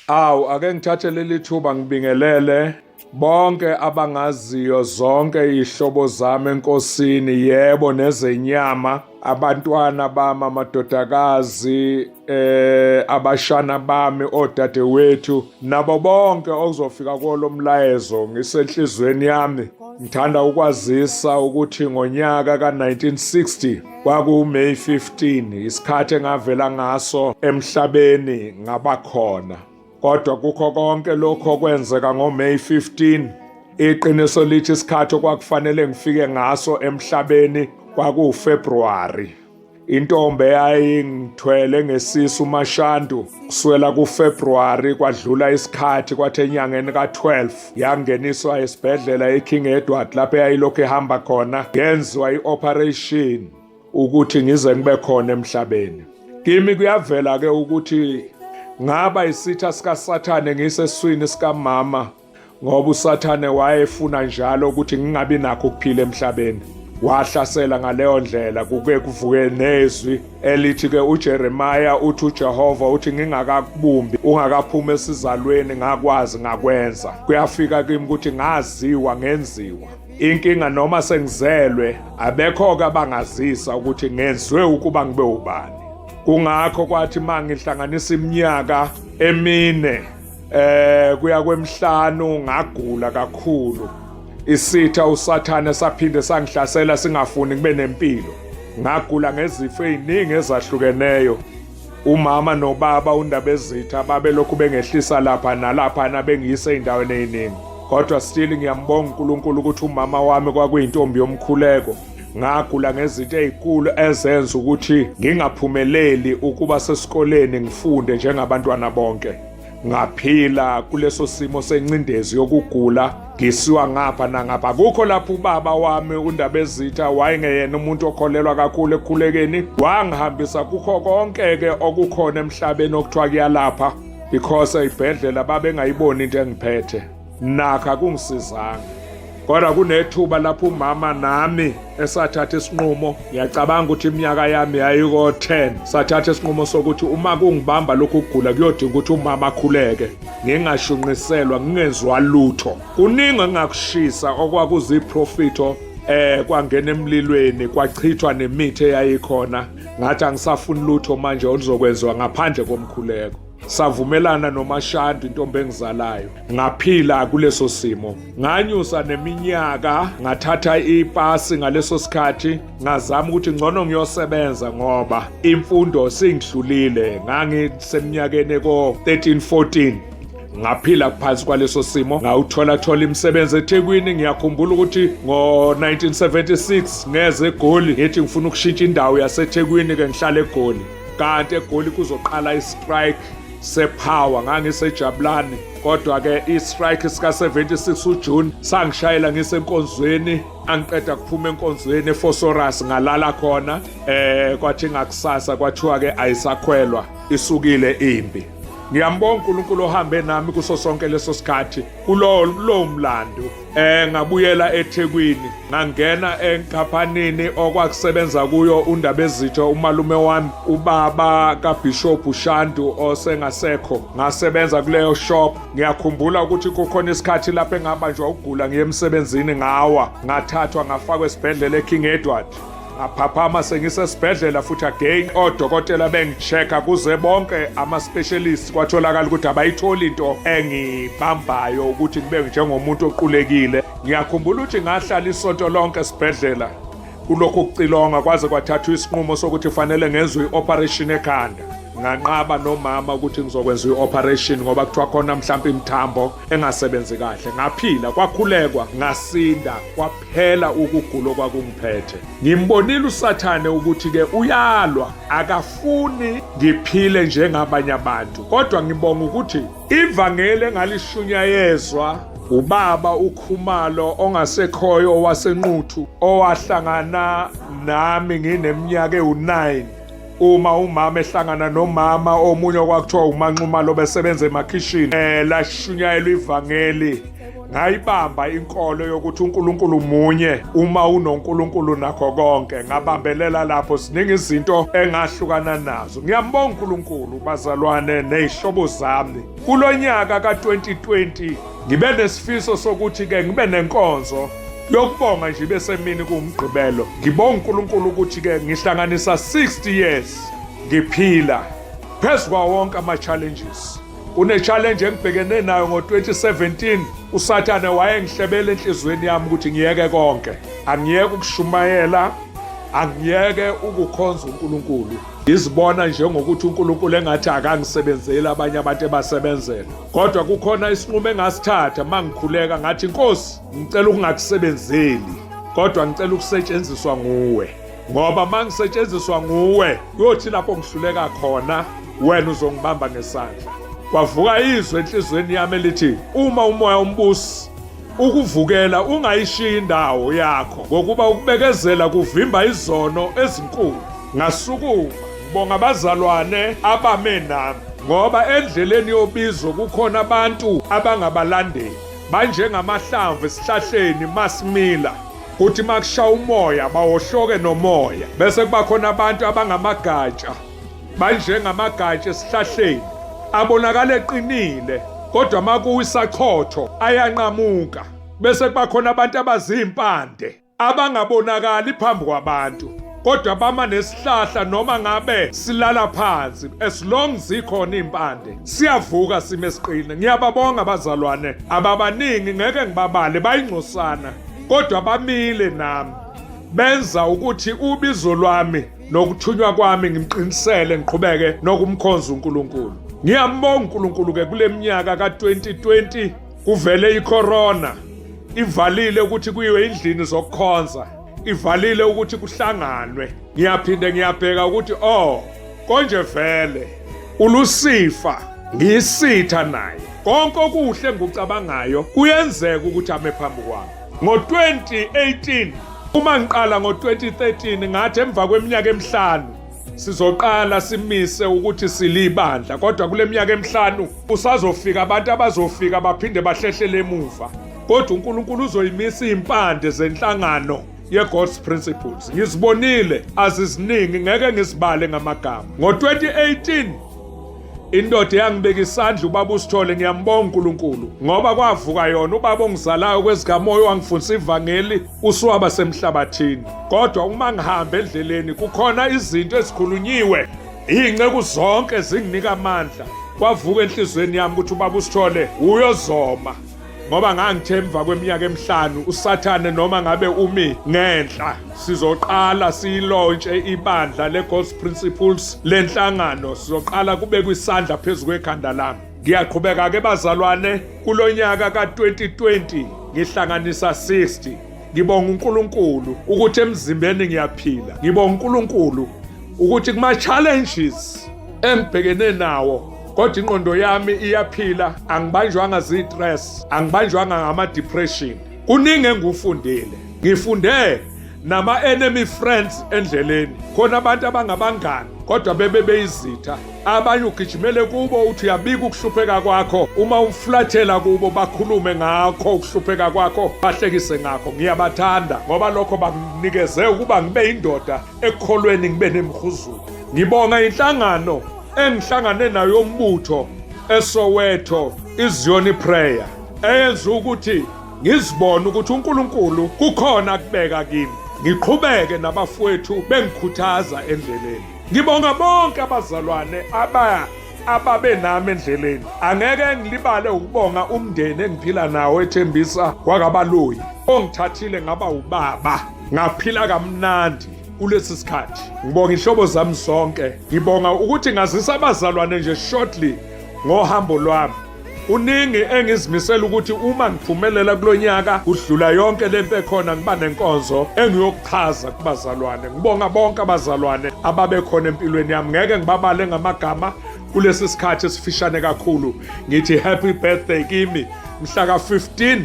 Awu ake ngithathe leli thuba ngibingelele bonke abangaziyo zonke izihlobo zami enkosini yebo nezenyama abantwana bami amadodakazi eh abashana bami odadewethu nabo bonke okuzofika kolomlayezo ngisenhlizweni yami ngithanda ukwazisa ukuthi ngonyaka ka1960 KwakuMay 15 isikhathi engavela ngaso emhlabeni ngabakhona. Kodwa kukho konke lokho okwenzeka ngoMay 15 iqiniso lithi isikhathi okwakufanele ngifike ngaso emhlabeni kwakuwuFebruary. Intombi eyayingithwele ngesisu uMashandu kuswela kuFebruary kwadlula isikhathi kwathi enyangeni ka-12 yangeniswa esibhedlela eKing Edward lapho eyayilokhu ehamba khona yenziwa i-operation ukuthi ngize ngibe khona emhlabeni kimi kuyavela ke ukuthi ngaba isitha sikasathane ngiseswini sikamama ngoba usathane wayefuna njalo ukuthi ngingabi nakho ukuphila emhlabeni wahlasela ngaleyo ndlela kuke kuvuke nezwi elithi ke uJeremiya uthi uJehova uthi ngingakakubumbi ungakaphumi esizalweni ngakwazi ngakwenza kuyafika kimi ukuthi ngaziwa ngenziwa inkinga noma sengizelwe abekho ke abangazisa ukuthi ngenzwe ukuba ngibe ubani kungakho kwathi mangihlanganisa iminyaka emine eh kuya kwemhlanu ngagula kakhulu isitha usathane saphinde sangihlasela singafuni kube nempilo ngagula ngezifo eziningi ezahlukeneyo umama nobaba undabezitha babelokhu bengehlisa lapha nalapha nabengiyise indaweni eziningi kodwa still ngiyambonga uNkulunkulu ukuthi umama wami kwakuyintombi yomkhuleko ngagula ngezinto ezinkulu ezenza ukuthi ngingaphumeleli ukuba sesikoleni ngifunde njengabantwana bonke ngaphila kuleso simo sencindezi yokugula ngisiwa ngapha nangapha kukho lapho ubaba wami undabezitha wayengeyena umuntu okholelwa kakhulu ekukhulekeni wangihambisa kukho konke-ke okukhona emhlabeni okuthiwa kuyalapha because ey'bhedlela babengayiboni into engiphethe Nakha kungisizanga. Kodwa kunethuba lapho umama nami esathatha isinqumo ngiyacabanga ukuthi iminyaka yami yayiko 10 sathatha isinqumo sokuthi uma kungibamba lokhu kugula kuyodinga ukuthi umama akhuleke ngingashunqiselwa ngingenziwa lutho kuningi engakushisa okwakuziprofito eh kwangena emlilweni kwachithwa nemithi eyayikhona ngathi angisafuni lutho manje oluzokwenziwa ngaphandle komkhuleko savumelana nomashandi intombi engizalayo ngaphila kuleso simo nganyusa neminyaka ngathatha ipasi ngaleso sikhathi ngazama ukuthi ngcono ngiyosebenza ngoba imfundo singidlulile ngangiseminyakeni ko 13 14 ngaphila phansi kwaleso simo ngawuthola thola imisebenzi eThekwini ngiyakhumbula ukuthi ngo1976 ngeze eGoli ngithi ngifuna ukushintsha indawo yaseThekwini ke ngihlale eGoli kanti egoli kuzoqala istrike sepower ngangisejabulani kodwa-ke istrike sika-76 ujune sangishayela ngisenkonzweni angiqeda kuphuma enkonzweni efosoras ngalala khona eh kwathi ngakusasa kwathiwa-ke ayisakhwelwa isukile impi ngiyambonga unkulunkulu ohambe nami kuso sonke leso sikhathi kulowo mlando Eh ngabuyela eThekwini ngangena enkaphanini okwakusebenza kuyo uNdabezitho umalume wami ubaba kaBishop Shandu osengasekho ngasebenza kuleyo shop ngiyakhumbula ukuthi kukhona isikhathi lapho engabanjwa ukugula ngiye emsebenzini ngawa ngathathwa ngafakwa esibhedlela eKing Edward ngaphaphama sengisesibhedlela futhi again odokotela bengichecka kuze bonke ama-specialist kwatholakala ukuthi abayitholi into engibambayo ukuthi ngibe njengomuntu oqulekile ngiyakhumbula ukuthi ngahlala isonto lonke esibhedlela kulokhu kucilonga kwaze kwathathwa isinqumo sokuthi kufanele ngenzwe i-operation ekhanda nganqaba nomama ukuthi ngizokwenza i-operation ngoba kuthiwa khona mhlawumpe imithambo engasebenzi kahle ngaphila kwakhulekwa ngasinda Phela ukugula okwakungiphethe. Ngimbonile uSathane ukuthi ke uyalwa, akafuni ngiphile njengabanye abantu. Kodwa ngibonga ukuthi ivangeli engalishunyayezwa ubaba uKhumalo ongasekhoyo waseNquthu owahlangana nami ngineminyaka ewu-9 uma umama ehlangana nomama omunye okwakuthiwa umanxumalo besebenza emakhishini um lashunyayelwa ivangeli ngayibamba inkolo yokuthi uNkulunkulu munye uma unoNkulunkulu nakho konke ngabambelela lapho siningi izinto engahlukana nazo ngiyambonga uNkulunkulu bazalwane nezihlobo zami kulonyaka ka2020 Ngibe nesifiso sokuthi ke ngibe nenkonzo yokubonga nje besemini kuwumgqibelo. Ngibonga uNkulunkulu ukuthi ke ngihlanganisa 60 years ngiphila phezu kwawo wonke ama-challenges kune-challenge engibhekene nayo ngo-2017 usathane wayengihlebela enhliziyweni yami ukuthi ngiyeke konke angiyeke ukushumayela angiyeke ukukhonza unkulunkulu ngizibona njengokuthi unkulunkulu engathi akangisebenzeli abanye abantu ebasebenzela kodwa kukhona isinqumo engasithatha uma ngikhuleka ngathi nkosi ngicela ukungakusebenzeli kodwa ngicela ukusetshenziswa nguwe ngoba uma ngisetshenziswa nguwe kuyothi lapho ngihluleka khona wena uzongibamba ngesandla kwavuka izwi enhliziyweni yami elithi uma umoya umbusi Ukuvukela ungayishiyi indawo yakho ngokuba ukubekezela kuvimba izono ezinkulu. Ngasukuma ngibonga abazalwane abame nami ngoba endleleni yobizo kukhona abantu abangabalandeli banjengamahlamvu esihlahleni masimila kuthi makusha umoya bawohloke nomoya bese kuba khona abantu abangamagatsha Banjengamagatsha esihlahleni abonakala eqinile kodwa makuwisachotho ayanqamuka bese kubakhona abantu abazimpande abangabonakali phambi kwabantu kodwa bama nesihlahla noma ngabe silala phansi as long zikhona impande siyavuka sime siqine ngiyababonga abazalwane ababaningi ngeke ngibabale bayingcosana kodwa bamile nami benza ukuthi ubizo lwami nokuthunywa kwami ngimqinisele ngiqhubeke nokumkhonza uNkulunkulu ngiyambonga uNkulunkulu ke kule minyaka ka-2020 kuvele icorona ivalile ukuthi kuyiwe endlini zokukhonza ivalile ukuthi kuhlanganwe ngiyaphinde ngiyabheka ukuthi oh konje vele ulusifa ngiyisitha naye konke okuhle ngucabangayo kuyenzeka ukuthi ame phambi kwami Ngo-2018 uma ngiqala ngo-2013 ngathi emva kweminyaka emihlanu sizoqala simise ukuthi silibandla kodwa kule minyaka emihlanu usazofika abantu abazofika baphinde bahlehlele emuva kodwa uNkulunkulu uzoyimisa impande zenhlangano ye-God's Principles ngizibonile aziziningi ngeke ngizibale ngamagama ngo-2018 indoda eyangibeka isandla ubaba usithole ngiyambonga uNkulunkulu ngoba kwavuka yona ubaba ongizalayo kwezikamoya wangifundisa ivangeli usuwaba semhlabathini kodwa uma ngihamba endleleni kukhona izinto ezikhulunyiwe iy'nceku zonke zinginika amandla kwavuka enhliziyweni yami ukuthi ubaba usithole uyozoma ngoba ngangithe emva kweminyaka emihlanu usathane noma ngabe umi ngenhla sizoqala siyilontshe ibandla le-god's principles lenhlangano sizoqala kube kwisandla phezu kwekhanda lami ngiyaqhubeka-ke bazalwane kulo nyaka ka-2020 ngihlanganisa 60 ngibonga uNkulunkulu ukuthi emzimbeni ngiyaphila ngibonga uNkulunkulu ukuthi kuma challenges engibhekene nawo kodwa ingqondo yami iyaphila angibanjwanga ziyi-stress angibanjwanga ngama-depression kuningi engikufundile ngifunde nama-enemy friends endleleni khona abantu abangabangani kodwa bebe beyizitha abanye ugijimele kubo uthi uyabika ukuhlupheka kwakho uma umflathela kubo bakhulume ngakho ukuhlupheka kwakho bahlekise ngakho ngiyabathanda ngoba lokho banginikeze ukuba ngibe yindoda ekholweni ngibe nemhuzulu ngibonga inhlangano engihlangane nayo umbutho eSoweto iZioni Prayer eyenza ukuthi ngizibone ukuthi uNkulunkulu kukhona kubeka kimi ngiqhubeke nabafowethu bengikhuthaza endleleni ngibonga bonke abazalwane aba ababe nami endleleni angeke ngilibale ukubonga umndeni engiphila nawo ethembisa kwakabaluyi ongithathile ngaba ubaba ngaphila kamnandi kulesi sikhathi ngibonga ihlobo zami zonke ngibonga ukuthi ngazisa abazalwane nje shortly ngohambo lwami kuningi engizimisela ukuthi uma ngiphumelela kulonyaka kudlula yonke lento ekhona ngiba nenkonzo engiyokuchaza kubazalwane ngibonga bonke abazalwane ababekhona empilweni yami ngeke ngibabale ngamagama kulesi sikhathi esifishane kakhulu ngithi happy birthday kimi mhla ka 15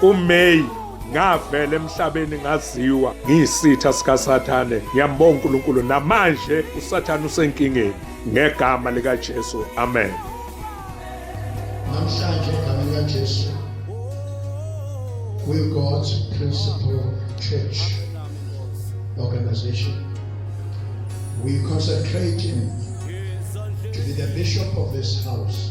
uMay ngavela emhlabeni ngaziwa ngiyisitha sikaSathane ngiyambonga uNkulunkulu namanje uSathane usenkingeni ngegama likaJesu amen namhlanje igama likaJesu we God's principal church organization we consecrate him to be the bishop of this house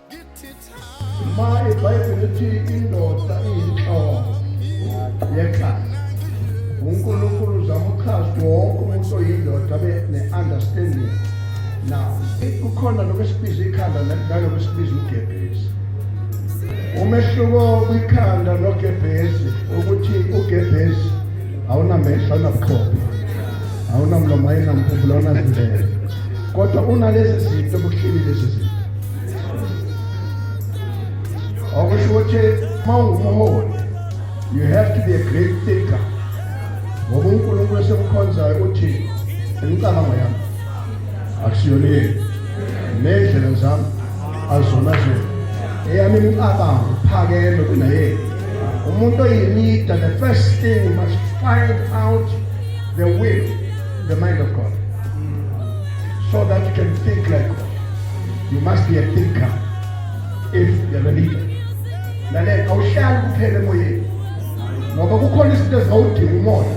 Maye Bible ithi indoda iyinhloko yekhaya. UNkulunkulu uzama uchaza wonke umuntu oyindoda abe ne-understanding now kukhona lokho esibiza ikhanda nalokho esibiza ugebhezi umehluko kwikhanda nogebhezi ukuthi ugebhezi awunamehlo awunabuchopho awunamlomo ayinamphumbulo awunazindlela kodwa unalezi zinto bukuhleli lezi zinto okusho ukuthi uma ungumholi you have to be a great thinker ngoba unkulunkulu esemkhonzayo uthi imicabango yami akusiyona yenu ney'ndlela zami azona zenu eyami imicabango iphakeme kunayenu umuntu oyilida the first thing must find out the will the mind of god so that you can think like God. You must be a thinker if you're a leader. Lalela awuhlali kuphela emoyeni. Ngoba kukhona izinto ezawudinga umoya.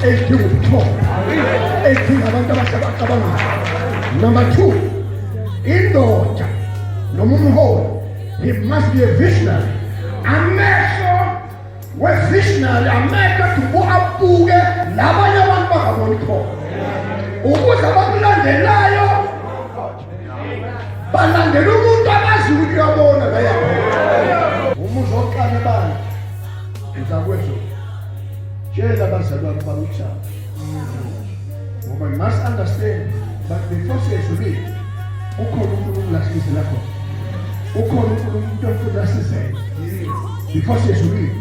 Ezidinga ubuthongo. Ezidinga abantu abasebacabangayo. Number 2. Indoda noma umholi he must be a visionary. Amehlo wevisionary amehlo adubu abuke labanye abantu bangaboni khona ukuze abakulandelayo balandela umuntu abazi ukuthi uyabona laya uma uzoqala ebandla uzakwezwa tshela abazalwane bami ujaba ngoba you must understand but the force yezulile ukhona unkulunkulu lahlise lapho ukhona unkulunkulu umuntu omfuna asizele the force yezulile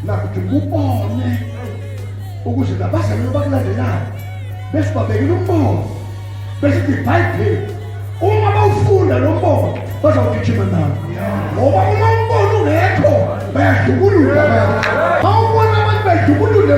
lapho ngikubone ukuze labazalwane bakulandelayo bese babekile umbono bese ithi ibhayibheli uma bawufunda lo mbono bazawugijima nawo ngoba uma umbono ungekho bayadubulula bayadubulula